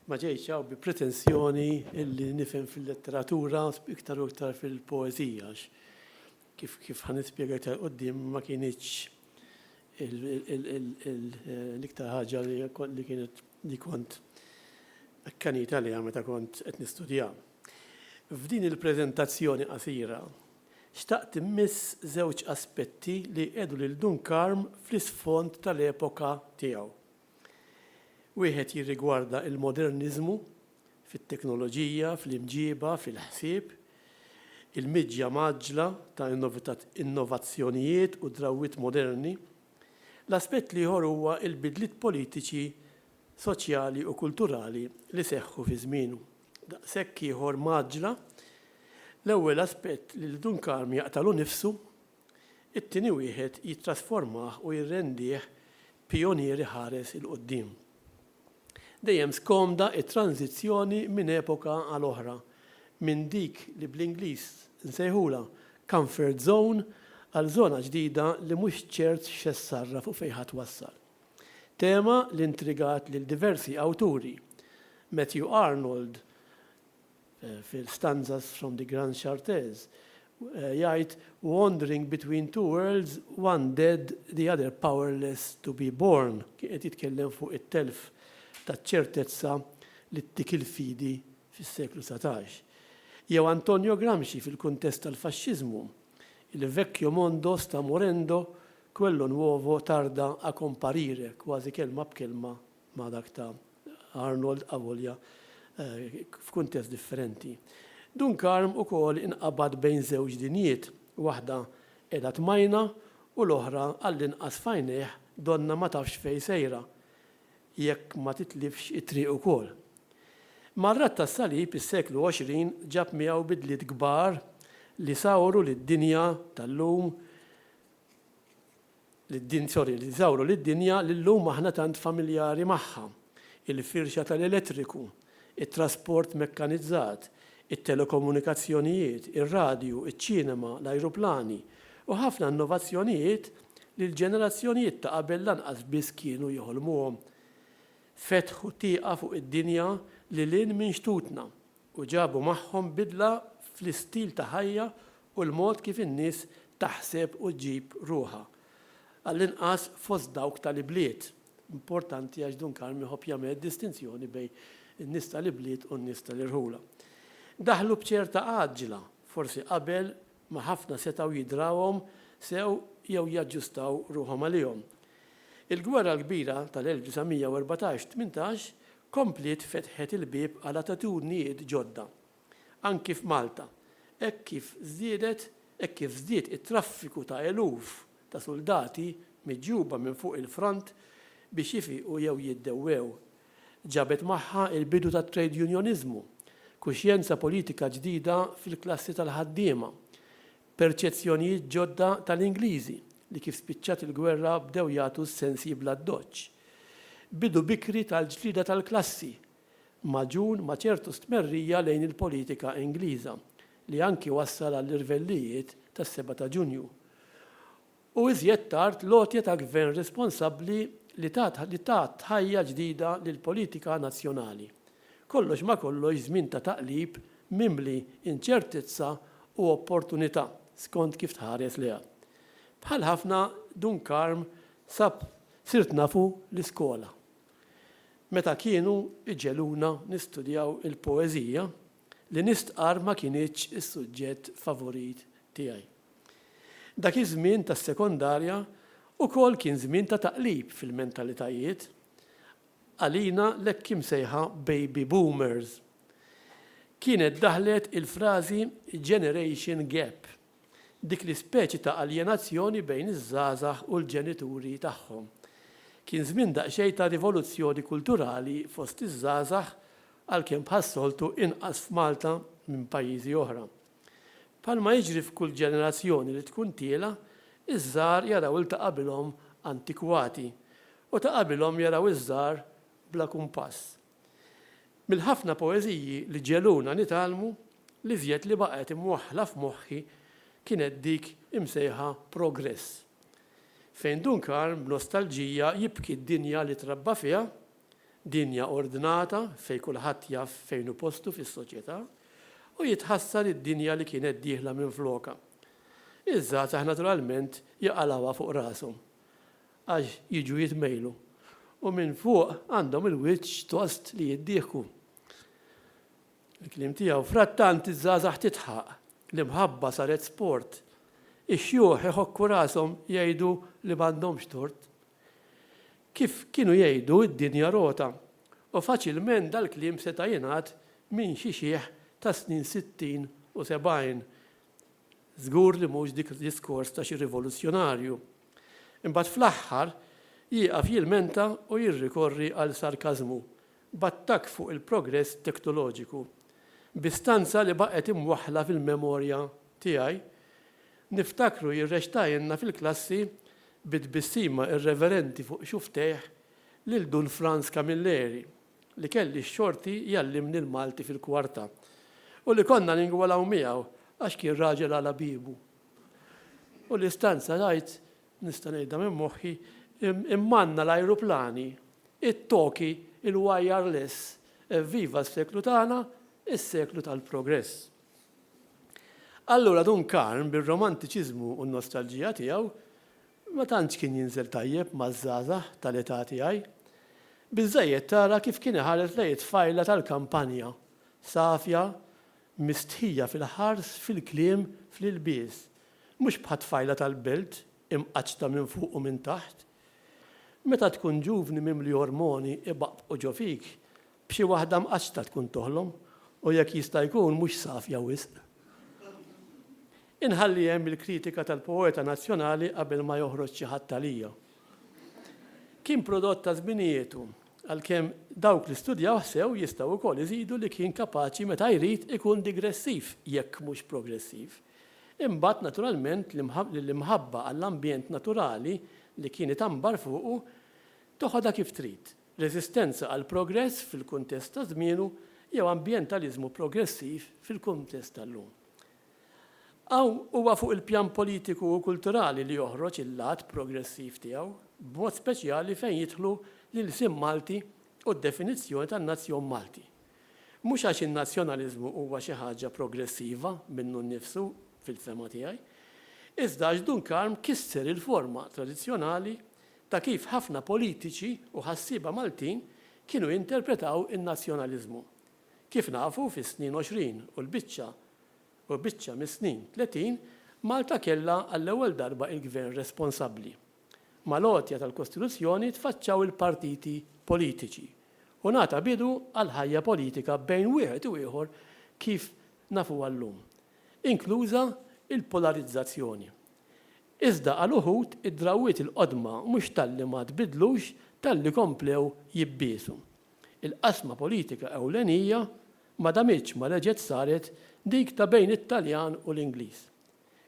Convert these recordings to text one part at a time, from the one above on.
Ma ġejtx hawn bi pretensjoni illi nifhem fil-letteratura iktar u iktar fil-poeżija kif kif ħan nispjega iktar qudiem ma kienitx l-iktar ħaġa li kienet li kont akkanit għaliha meta kont qed nistudja. F'din il-preżentazzjoni qasira, xtaqt immiss żewġ aspetti li jqiegħdu lil Dun Karm fl-isfond tal-epoka tiegħu. Wieħed jirrigwarda l-moderniżmu fit-teknoloġija, fl-imġiba, fil-ħsieb, il-miġja mgħaġġla ta' innovazzjonijiet u drawwiet moderni. L-aspett l-ieħor huwa l-bidliet politiċi, soċjali u kulturali li seħħu fi żmienu daqshekk ieħor mgħaġġla. L-ewwel aspett li l-Dun Karm jaqtagħlu nnifsu It-tieni wieħed jittrasformah u jirrendih pijonier iħares 'il quddiem. Dejjem skomda t-tranżizzjoni minn epoka għal oħra, minn dik li bl-Ingliż nsejħulha comfort zone għal żona ġdida li mhux ċert x'se ssarraf u fejn ħa twassal. Tema li intrigat lil diversi awturi, Matthew Arnold, fil-Stanzas from the Grands Charters, jgħid, Wandering between two worlds, one dead, the other powerless to be born. Kien qed jitkellem fuq it-telf taċ-ċertezza li ttik il-fidi fis-seklu satax. Jew Antonio Gramsci fil-kuntest tal-Faxxiżmu, Il vecchio mondo sta morendo, quello nuovo tarda a comparire, kważi kelma b'kelma ma' dak ta' Arnold avolja f'kuntest differenti. Dunkarm ukoll inqabad bejn żewġ dinjiet, waħda qiegħda tmajna u l-oħra għallinqas f'għajnejh donnha ma tafx fejn sejra jekk ma titlifx it-triq ukoll. Mar-Radd tas-Salib is-seklu 20 ġab miegħu bidliet kbar li sawru lid-dinja tal-lum, Lid-dinzori li żawru lid-dinja li llum aħna tant familjari magħha, il-firxa tal-elettriku, it-trasport mekkanizzat, it-telekomunikazzjonijiet, ir-radju, iċ-ċinema, l-ajruplani, u ħafna innovazzjonijiet li l-ġenerazzjonijiet ta' qabel lanqas biss kienu jeħolmuhom, fetħu tieqa fuq id-dinja lil hinn minn xtutna, u ġabu magħhom bidla fl-istil ta' ħajja u l-mod kif in-nies taħseb u ġġib ruħha, għall-inqas fost dawk tal-ibliet. Importanti għax Dun Karm iħobb jagħmel distinzjoni bejn in-nies tal-ibliet u n-nies tal-irħula. Daħlu b'ċerta għaġġla, forsi qabel ma ħafna setgħu jidrawhom sew jew jaġġustaw ruħhom għalihom. Il-Gwerra l-Kbira tal-1914, tmintax, kompliet fetħet il-bieb għal attitudnijiet ġodda, anki f'Malta, hekk kif żdiedet hekk kif żdied it-traffiku ta' eluf ta' suldati miġjuba minn fuq il-front biex jifiqu jew jiddewwew. Ġabet magħha l-bidu tat-trejdjunjoniżmu, kuxjenza politika ġdida fil-klassi tal-ħaddiema, Perċezzjonijiet ġodda tal-Ingliżi li kif spiċċat il-gwerra bdew jagħtu s-sensi bla ddoċċ. Bidu bikri tal-ġlieda tal-klassi, magħġun ma' ċertu stmerrija lejn il-politika Ingliża, li anki wassal għall-irvellijiet tas-Seba' ta' Ġunju. u iżjed tard l-għotja ta' gvern responsabbli li tat ħajja ġdida lill-politika nazzjonali. Kollox ma' kollox żmien ta' taqlib mimli inċertezza u opportunità, skont kif tħares lejha. Bħal ħafna, Dun Karm sab Sirt nafu l-iskola meta kienu jġegħluna nistudjaw il-poeżija li nistqarr ma kinitx is-suġġett favorit tiegħi. Dak iż-żmien tas-sekondarja ukoll kien żmien ta' taqlib fil-mentalitajiet għalina l-hekk imsejħa baby boomers. Kienet daħlet il-frażi generation gap. dik l-ispeċi ta' aljenazzjoni bejn iż-żgħażagħ u l-ġenituri tagħhom. Kien żmien daqsxejn ta' rivoluzzjoni kulturali fost iż-żgħażagħ għalkemm bħas-soltu inqas f'Malta minn pajjiżi oħra. Bħalma jiġri f'kull ġenerazzjoni li tkun tiela', iż-żgħar jaraw 'il ta' qabilhom antikwati u ta' qabilhom jaraw iż-żgħar bla kumpass. Mill-ħafna poeżiji li ġegħluna nitgħallmu, l-iżjed li baqgħet imwaħħla f'moħħi kienet dik imsejħa Progress, fejn Dun Karm b'nostalġija jibki d-dinja li trabba fiha, dinja ordnata fejn kulħadd jaf fejn hu postu fis-soċjetà, u jitħassar id-dinja li kienet dieħla minflokha. Iż-żgħażagħ naturalment jaqalgħuha fuq rashom. Għax jiġu jitmejlu. U minn fuq għandhom il-wiċċ tost li jiddieħku. Il-kliem tiegħu. Frattant iż-żgħażagħ tidħaq. L-imħabba saret sport. Ix-xjuħ iħokku rashom jgħidu li m'għandhomx tort. Kif kienu jgħidu d-dinja rota. U faċilment dal-kliem seta' jingħad minn xi xiħ tas-snin sittin u sebgħin. Żgur li mhux dik diskors ta' xi rivoluzzjonarju. Imbagħad fl-aħħar jieqaf jilmenta u jirrikorri għal sarkażmu, b'attakk fuq il-progress teknoloġiku. Bi stanza li baqgħet imwaħħla fil-memorja tiegħi, niftakru jirrexxtailna fil-klassi bi tbissima irreverenti fuq xufftejh lil Dun Frans Camilleri, li kelli x-xorti jgħallimni l-Malti fil-kwarta u li konna ningwalaw miegħu għax kien raġel għala biebu. U li stanza ngħid, nista' ngħidha minn moħħi, immanna l-ajruplani, it-toki, il-wireless, evviva s-seklu tagħna, is-seklu tal-progress. Allura Dun Karm bir-romantiċiżmu u n-nostalġija tiegħu, Ma tantx kien jinżel tajjeb maż-żgħażagħ tal-età tiegħi. Biżżejjed tara kif kien iħares lejn it-tfajla tal-kampanja, safja, mistħija fil-ħars, fil-kliem, fl-ilbies. Mhux bħat-tfajla tal-belt, imqaċċta minn fuq u minn taħt. Meta tkun ġuvni mimli ormoni ibaqbqu ġo fik, B'xi waħda mqaċċta tkun toħlom u jekk jista' jkun mhux safja wisq. Inħalli hemm il-kritika tal-poeta nazzjonali qabel ma joħroġ xi ħadd għalija. Kien prodott ta' żminietu, għalkemm dawk li studjawh sew jistgħu wkoll iżidu li kien kapaċi meta jrid ikun digressiv jekk mhux progressiv. Imbagħad naturalment l-imħabba għall-ambjent naturali li kien itambar fuqu toħodha kif trid. reżistenza għall-progress fil-kuntest ta' żmienu jew ambjentaliżmu progressiv fil-kuntest tal-lum. Hawn huwa fuq il-pjan politiku u kulturali li joħroġ il-lat progressiv tiegħu, b'mod speċjali fejn jidħlu l-ilsien Malti u d-definizzjoni tan-nazzjon Malti. Mhux għax in-nazzjonaliżmu huwa xi ħaġa progressiva minnu nnifsu, fil-fehma tiegħi, iżda għax Dun Karm kisser il-forma tradizzjonali ta' kif ħafna politiċi u ħassieba Maltin kienu jinterpretaw in-nazzjonaliżmu. Kif nafu, fis-snin għoxrin u l-biċċa u biċċa mis-snin tletin, Malta kellha għall-ewwel darba il-Gvern responsabbli. Mal-għotja tal-Kostituzzjoni tfaċċaw il-partiti politiċi u ngħata bidu għall-ħajja politika bejn wieħed u ieħor kif nafuha llum, inkluża l-polarizzazzjoni. Iżda għal uħud id-drawwiet il-qodma mhux talli ma tbiddlux talli komplew jibbiegħsu. Il-qasma politika ewlenija ma damitx ma reġgħet saret dik ta' bejn it-Taljan u l-Ingliż.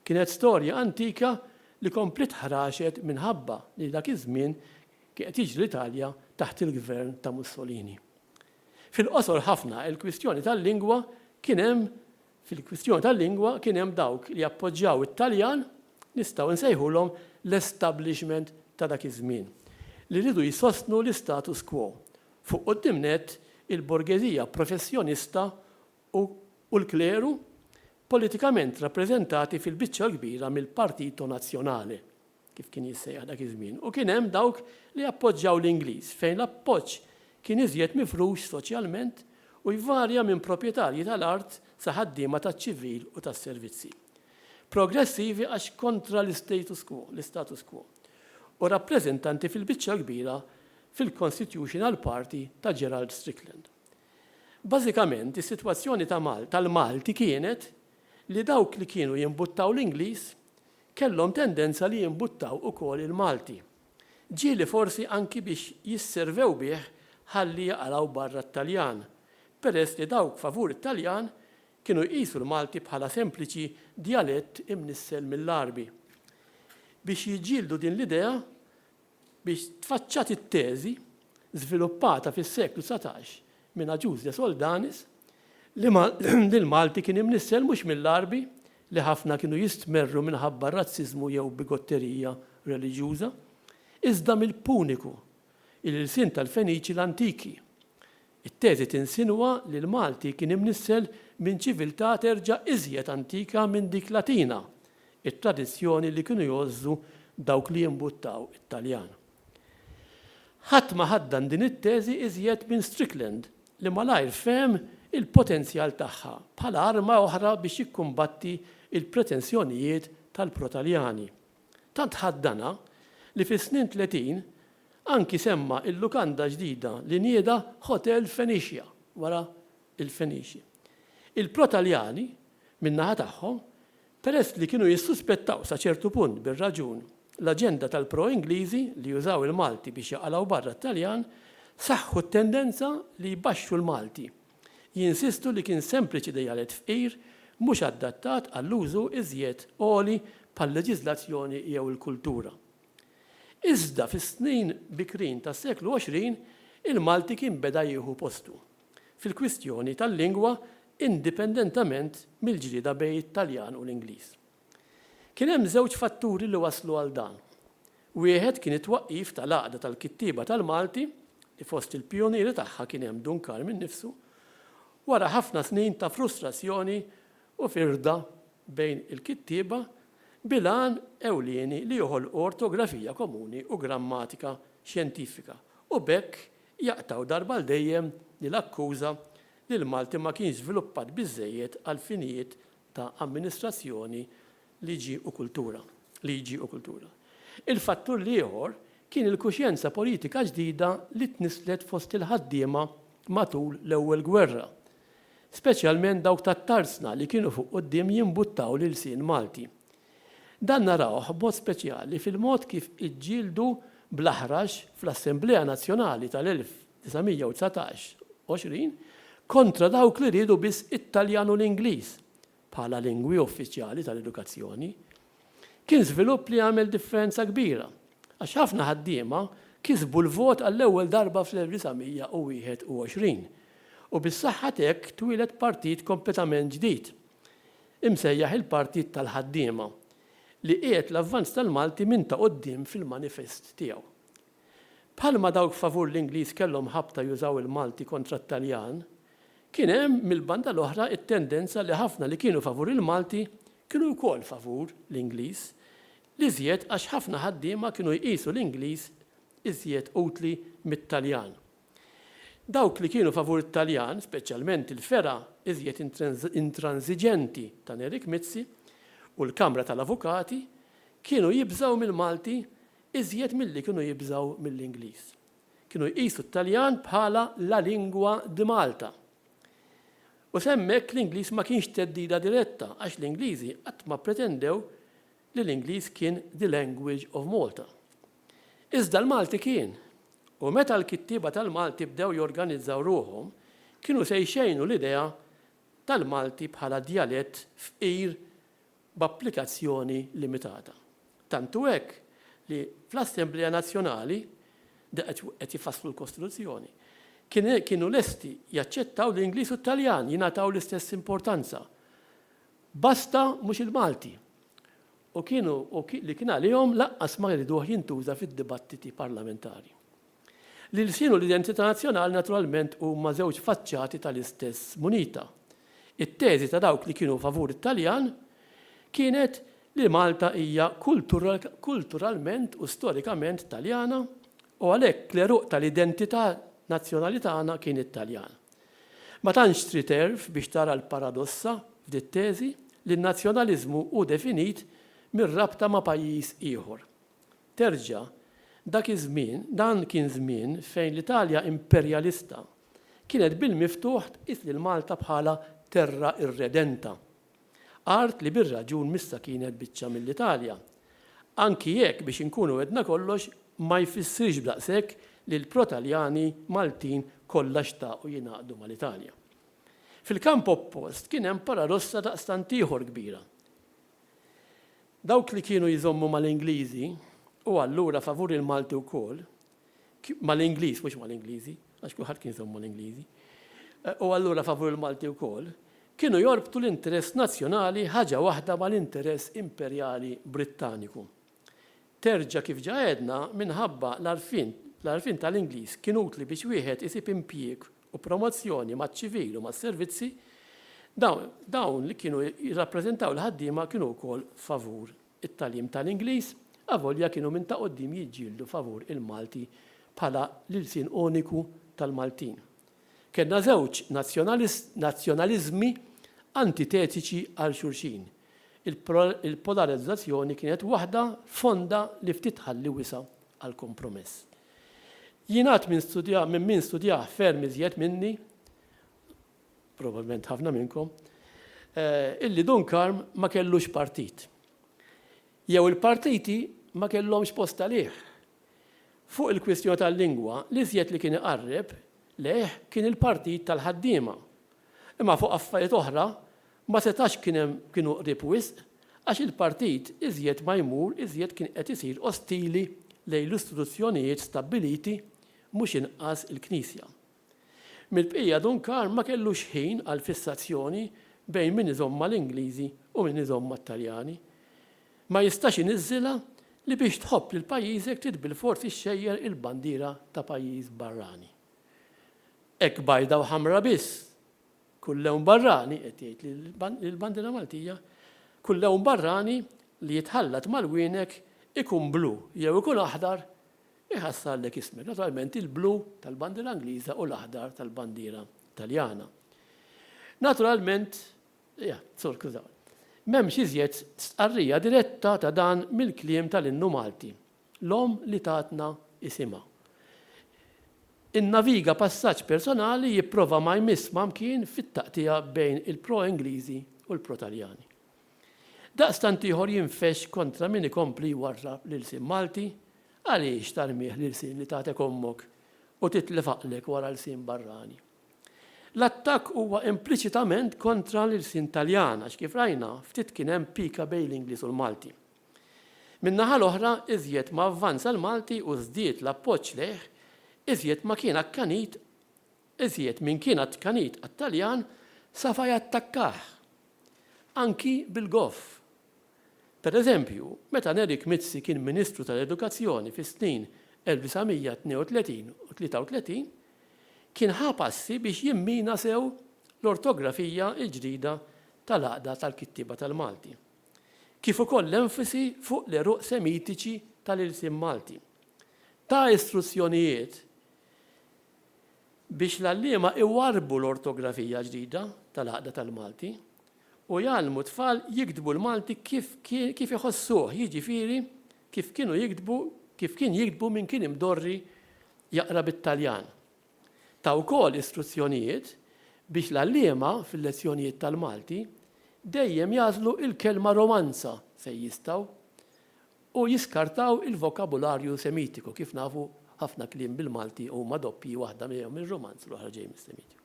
Kienet storja antika li kompliet ħraxet minħabba li dak iż-żmien kien qed jiġri l-Italja taħt il-gvern ta' Mussolini. Fil-qosor ħafna il-kwistjoni tal-lingwa kien hemm Fil-kwistjoni tal-lingwa kien hemm dawk li jappoġġjaw it-Taljan, nistgħu insejħulhom l-establishment ta' dak iż-żmien, li riedu jsostnu l-istatus quo, fuq quddiem nett il-borgeżija professjonista u l-kleru, politikament rappreżentati fil-biċċa l-kbira mill-Partito Nazionale. kif kien jissejjaħ dak iż-żmien, u kien hemm dawk li appoġġjaw l-Ingliż, fejn l-appoġġ kien iżjed mifrux soċjalment u jvarja minn proprjetarji tal-art sa ħaddiema taċ-ċivil u tas-servizzi. Progressivi għax kontra l-istatus quo, l-istatus quo, u rappreżentanti fil-biċċa l-kbira fil-Constitutional Party ta' Gerald Strickland. Bażikament, is-sitwazzjoni ta' Mal, tal-Malti kienet li dawk li kienu jimbuttaw l-Ingliż Kellhom tendenza li jimbuttaw ukoll il-Malti. Ġieli forsi anki biex jisservew bih ħalli jaqalgħu barra t-Taljan, peress li dawk favur it-Taljan kienu jqisu l-Malti bħala sempliċi djalett imnissel mill-Għarbi. Biex jiġġieldu din l-idea, biex tfaċċat it-teżi, żviluppata fis-seklu dsatax minn Agius de Soldanis, li l-Malti kien imnissel mhux mill-Għarbi, li ħafna kienu jistmerru minħabba r-razziżmu jew bigotterija reliġjuża, iżda mill-Puniku, il-ilsien tal-Feniċi l-antiki, It-teżi tinsinwa li l-Malti kien imnissel minn ċiviltà terġa' iżjed antika minn dik Latina, it-tradizzjoni li kienu jgħożżu dawk li jimbuttaw it-Taljan. Ħadd ma ħaddan din it-teżi iżjed minn Strickland li malajr fehem il-potenzjal tagħha bħala arma oħra biex jikkumbatti l-pretensjonijiet tal-pro-Taljani. Tant ħaddanha li fis-snin tletin anki semma il-lukanda ġdida li nieda Hotel Fenicia wara il-Feniċi. Il-pro-Taljani, min-naħa tagħhom, peress li kienu jissuspettaw sa ċertu punt bir-raġun l-aġenda tal-pro-Ingliżi li jużaw il-Malti biex jaqalgħu barra t-Taljan, saħħu t-tendenza li jbaxxu l-Malti. Jinsistu li kien sempliċi dejjalet fqir mhux adattat għall-użu iżjed għoli bħal-leġiżlazzjoni jew il-kultura. Iżda fis-snin bikrin tas-seklu 20 il-Malti kien beda jieħu postu fil-kwistjoni tal-lingwa indipendentament mill-ġlieda bejn it-Taljan u l-Ingliż. Kien hemm żewġ fatturi li wasslu għal dan. Wieħed kien it-twaqqif tal-Għaqda tal-Kittieba tal-Malti li fost il-pijunieri tagħha kien hemm Dun Karm innifsu, wara ħafna snin ta' frustrazzjoni u firda bejn il-kittieba bil-għan ewlieni li joħolqu ortografija komuni u grammatika xjentifika u b'hekk jaqtgħu darba għal dejjem l-akkuża li l-Malti ma kienx żviluppat biżżejjed għall-finijiet ta' amministrazzjoni, liġi u kultura. Liġi u kultura. Il-fattur l-ieħor kien il-kuxjenza politika ġdida li tnisslet fost il-ħaddiema matul l-Ewwel Gwerra, speċjalment dawk tat-tarsna li kienu fuq quddiem jimbuttaw l-ilsien Malti. Dan narawh b'mod speċjali fil-mod kif iġġieldu bl-aħrax fl-Assemblea Nazzjonali tal-1900. 919, 20, kontra dawk li riedu biss it-Taljan u l-Ingliż bħala lingwi uffiċjali tal-edukazzjoni, kien żvilupp li għamel differenza kbira, għax ħafna ħaddiema kisbu l-vot għall-ewwel darba fl-1921, u bis-saħħa t'hekk twieled partit kompletament ġdid, imsejjaħ il-Partit tal-Ħaddiema, li qiegħed l-avvanz tal-Malti minn ta' quddiem fil-manifest tiegħu. Bħalma dawk favur l-Ingliż kellhom ħabta jużaw il-Malti kontra t-Taljan, kien hemm mill-banda l-oħra t-tendenza li ħafna li kienu favur il-Malti kienu wkoll favur l-Ingliż, l-iżjed għax ħafna ħaddiema kienu jqisu l-Ingliż iżjed utli mit-Taljan. Dawk li kienu favur it-Taljan, speċjalment il-fergħa iżjed intranżiġenti ta' Nerik Mizzi u l-Kamra tal-Avukati, kienu jibżgħu mill-Malti iżjed milli kienu jibżgħu mill-Ingliż. Kienu jqisu t-Taljan bħala la lingua di Malta. U sa hemmhekk l-Ingliż ma kienx theddida diretta għax l-Ingliżi qatt ma ppretendew li l-Ingliż kien the language of Malta. Iżda l-Malti kien. U meta l-kittieba tal-Malti bdew jorganizzaw ruħhom, kienu se jxejnu l-idea tal-Malti bħala djalett fqir b'applikazzjoni limitata. Tant hu hekk li fl-Assemblea Nazzjonali, daqt qed jfasslu l-Kostituzzjoni, kienu lesti jaċċettaw li l-Ingliż u t-Taljan jingħataw l-istess importanza, basta mhux il-Malti, u kienu li kien għalihom lanqas ma jriduh jintuża fid-dibattiti parlamentari. L-ilsien u l-identità nazzjonali naturalment huma żewġ faċċati tal-istess munita. It-teżi ta' dawk li kienu favur it-Taljan kienet li Malta hija kulturalment u storikament Taljana u għalhekk l-għeruq tal-identità nazzjonali tagħna kien it-Taljan. Ma tantx trid għerf biex tara l-paradossa f'dit-teżi li n-nazzjonaliżmu hu definit mir-rabta ma' pajjiż ieħor. Terġa', dak iż-żmien, dan kien żmien fejn l-Italja imperjalista kienet bil-miftuħ tqis lil Malta bħala terra irredenta, art li bir-raġun m'issa kienet biċċa mill-Italja. Anki jekk, biex inkunu għedna kollox, ma jfissirx b'daqshekk li l-pro-Taljani Maltin kollha xtaqu jingħaqdu mal-Italja. Fil-kamp oppost kien hemm paradossa daqstant ieħor kbira. Dawk li kienu jżommu mal-Ingliżi, u allura favur il-Malti wkoll, mal-Ingliż mhux mal-Ingliżi, għax kulħadd kien jżomm mal-Ingliżi, u allura favur il-Malti wkoll, kienu jorbtu l-interess nazzjonali ħaġa waħda mal-interess imperjali Brittaniku. Terġa' kif ġa għedna, minħabba l-għarfien l-għarfien tal-Ingliż kien utli biex wieħed isib impjieg u promozzjoni maċ-ċivil u mas-servizzi, dawn dawn li kienu jirrappreżentaw il-ħaddiema kienu wkoll favur it-tagħlim tal-Ingliż, avolja kienu minn ta' quddiem jiġġieldu favur il-Malti bħala l-ilsien uniku tal-Maltin. Kellna żewġ nazzjonaliżmi antitetiċi għal xulxin. Il-polarizzazzjoni kienet waħda fonda li ftit tħalli wisa' għall-kompromess. Jingħad minn studjah minn min studjah ferm iżjed minni, probabbilment ħafna minnkom, illi Dunkarm ma kellux partit. Jew il-partiti ma kellhomx post għalih. Fuq il-kwistjoni tal-lingwa, l-iżjed li kien iqarreb lejh kien il-Partit tal-Ħaddiema. Imma fuq affarijiet oħra Ma setax kien hemm kienu qrib wisq għax il-partit iżjed ma jmur iżjed kien qed isir ostili lejn l-istituzzjonijiet stabbiliti mhux inqas il-Knisja. Mill-bqija Dun Karm ma kellux ħin għal fissazzjoni bejn min iżomm mal-Ingliżi u min iżomm mat-Taljani. Ma jistax iniżżilha li biex tħobb lil pajjiżek trid bilfors ixxejjer il-bandiera ta' pajjiż barrani. Hekk bajda u ħamra biss Kull lewn barrani, qed jgħid li l-bandiera Maltija, kull lewn barrani li jitħallat mal-wienek ikun blu jew ikun aħdar iħassarlek ismek. Naturalment il-blu tal-bandiera Ingliża u l-aħdar tal-bandiera Taljana. Naturalment, ja, sur kużaw. M'hemmx iżjed stqarrija diretta ta' dan mill-kliem tal-innu Malti. L-Omm li tatna isimha. Innaviga passaġġ personali jipprova ma jmiss ma mkien fit-taqtigħa bejn il-pro-Ingliżi u l-pro-Taljani. Daqstant ieħor jinfexx kontra min ikompli jwarrab l-ilsien Malti, għaliex tarmih l-ilsien li tatek ommok u titlef għaqlek wara lsien barrani? L-attakk huwa impliċitament kontra l-ilsien Taljan għax kif rajna, ftit kien hemm pika bejn l-Ingliż u l-Malti. Min-naħa l-oħra, iżjed ma avvanza l-Malti u żdied l-appoġġ lejh, iżjed ma kien akkanit iżjed min kien akkkanit għat-Taljan safa jattakkah, anki bil-goff. Per eżempju, meta Nerik Mizzi kien Ministru tal-Edukazzjoni fis-snin 1932 u 33, kien ħa passi biex jimmina sew l-ortografija l-ġdida tal-Għaqda tal-Kittieba tal-Malti. kif ukoll l-enfasi fuq l-għeruq Semitiċi tal-ilsien Malti. Ta istruzzjonijiet biex l-għalliema iwarrbu l-ortografija ġdida tal-Għaqda tal-Malti u jgħallmu t-tfal jiktbu l-Malti kif kif iħossuh, jiġifieri kif kienu jiktbu kif kien jiktbu min kien imdorri jaqra bit-Taljan. Ta wkoll istruzzjonijiet biex l-għalliema fil-lezzjonijiet tal-Malti dejjem jagħżlu il-kelma romanza fejn jistgħu u jiskartaw il-vokabularju Semitiku, kif nafu ħafna kliem bil-Malti huma doppji waħda ġejja mir-Rumanz u l-oħra ġej mis-Semitiku.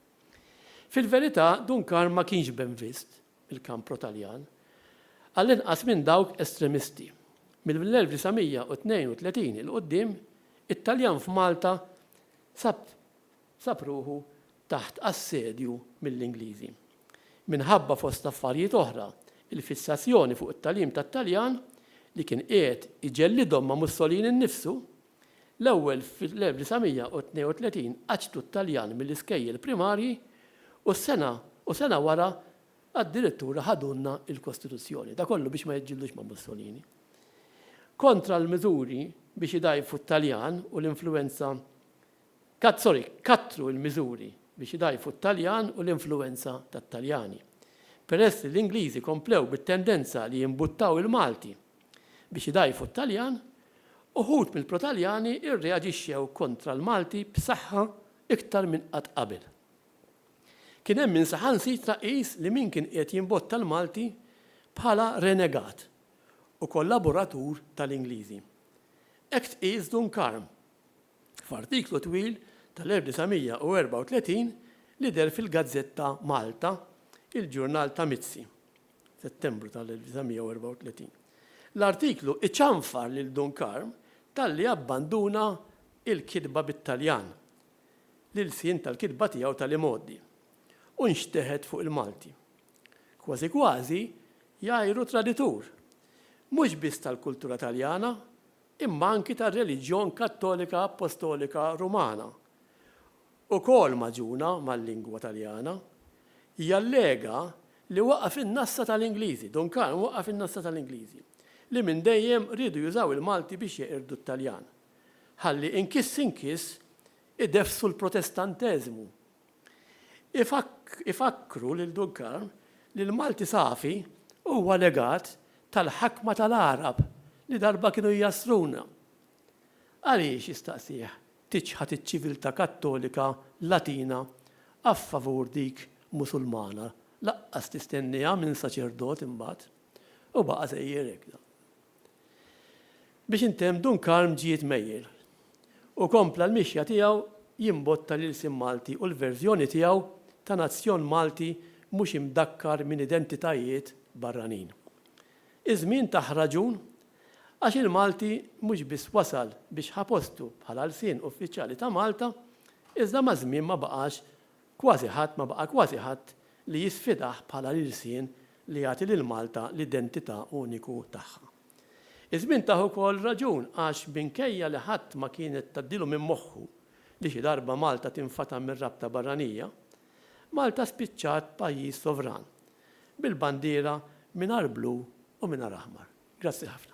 Fil-verità Dun Karm ma kienx benvist il-kamp pro-Taljan, għall-inqas minn dawk estremisti. Mill-1932 'il quddiem, it-Taljan f'Malta sab sab ruħu taħt assedju mill-Ingliżi. Minħabba fost affarijiet oħra, il-fissazzjoni fuq it-tagħlim tat-Taljan, li kien qiegħed iġellidhom ma' Mussolini nnifsu, L-ewwel fl-1932 qaċċtu t-Taljan mill-iskejjel primarji u s-sena u sena wara addirittura ħadulna l-Kostituzzjoni. Da kollu biex ma jiġġildux ma' Mussolini. Kontra l-miżuri biex idgħajfu t-Taljan u l-influwenza kat sorry, kattru l-miżuri biex idgħajfu t-Taljan u l-influwenza tat-Taljani. Peress li l-Ingliżi komplew bit-tendenza li jimbuttaw il-Malti Biex idgħajfu t-Taljan, uħud mill-pro-Taljani rreaġixxew kontra l-Malti b'saħħa iktar minn qatt qabel. Kien hemm min saħansitra qis li min kien qiegħed jimbotta l-Malti bħala renegat u kollaboratur tal-Ingliżi. Hekk tqies Dunkarm f'artiklu twil tal-1934 li deher fil-gazzetta Malta, il-ġurnal ta' Mizzi. Settembru tal-1934. L-artiklu iċanfar lil Dun Karm talli abbanduna l-kitba bit-Taljan, l-ilsien tal-kitba tiegħu tal-imgħoddi, u nxteħet fuq il-Malti. Kważi kważi jgħajru traditur, mhux biss tal-kultura Taljana, imma anki tar-reliġjon Kattolika Appostolika Rumana, ukoll magħġuna mal-lingwa Taljana, jallega li waqa' fin-nassa tal-Ingliżi, Dun Karm waqa' fin-nassa tal-Ingliżi, li minn dejjem riedu jużaw il-Malti biex jeqirdu t-Taljan, ħalli inkiss inkiss ideffsu l-Protestanteżmu. Ifakkru lil Dun Karm li l-Malti safi huwa legat tal-ħakma tal-Għarab li darba kienu jjassruna. Għaliex, jistaqsih, tiċħad iċ-ċiviltà Kattolika Latina a favur dik Musulmana, laqqas tistennieha minn saċerdot imbagħad. U baqa' sejjer hekk dan. Biex intemm Dun Karm ġie tmejjel u kompla l-mixja tiegħu jimbotta l-ilsien Malti u l-verżjoni tiegħu ta' nazzjon Malti mhux imdakkar minn identitajiet barranin. Iż-żmien tah raġun għax il-Malti mhux biss wasal biex ħa postu bħala lsien uffiċjali ta' Malta, iżda maż-żmien ma baqax kważi ħadd ma baqa' kważi ħadd li jisfidah bħala l-ilsien li jagħti lil Malta l-identità uniku tagħha. Iż-żmien tah ukoll raġun għax minkejja li ħadd ma kienet tgħaddilu minn moħħu li xi darba Malta tinfata' mir-rabta barranija, Malta spiċċat pajjiż sovran bil-bandiera mingħajr blu u mingħajr aħmar. Grazzi ħafna.